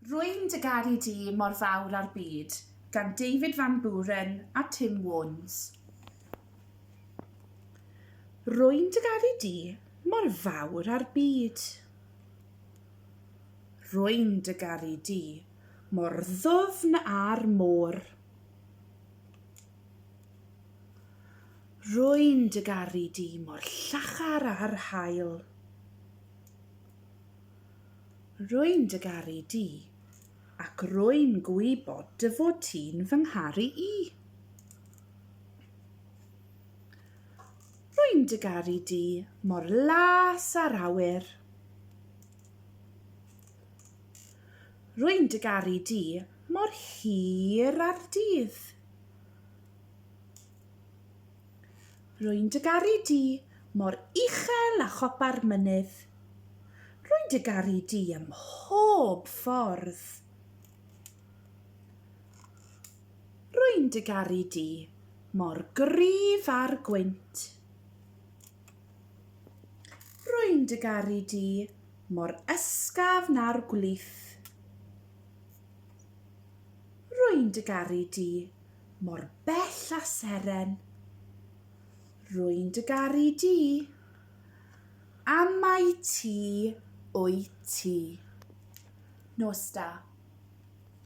Rwy'n dy garu di mor fawr â'r byd, gan David Van Buren a Tim Warnes. Rwy'n dy garu di mor fawr â'r byd. Rwy'n dy garu di mor ddwfn â'r môr. Rwy'n dy garu di mor llachar â'r haul. Rwy'n dy garu di, ac rwy'n gwybod dy fod ti'n fy ngharu i. Rwy'n dy garu di mor las â'r awyr. Rwy'n dy garu di mor hir â'r dydd. Rwy'n dy garu di mor uchel â chopa'r mynydd. Rwy'n dy garu di ym mhob ffordd. Rwy'n dy garu di mor gryf a'r gwynt. Rwy'n dy garu di mor ysgafn na'r gwlith. Rwy'n dy garu di mor bell a seren. Rwy'n dy garu di, a mai ti wyt ti. Nos da.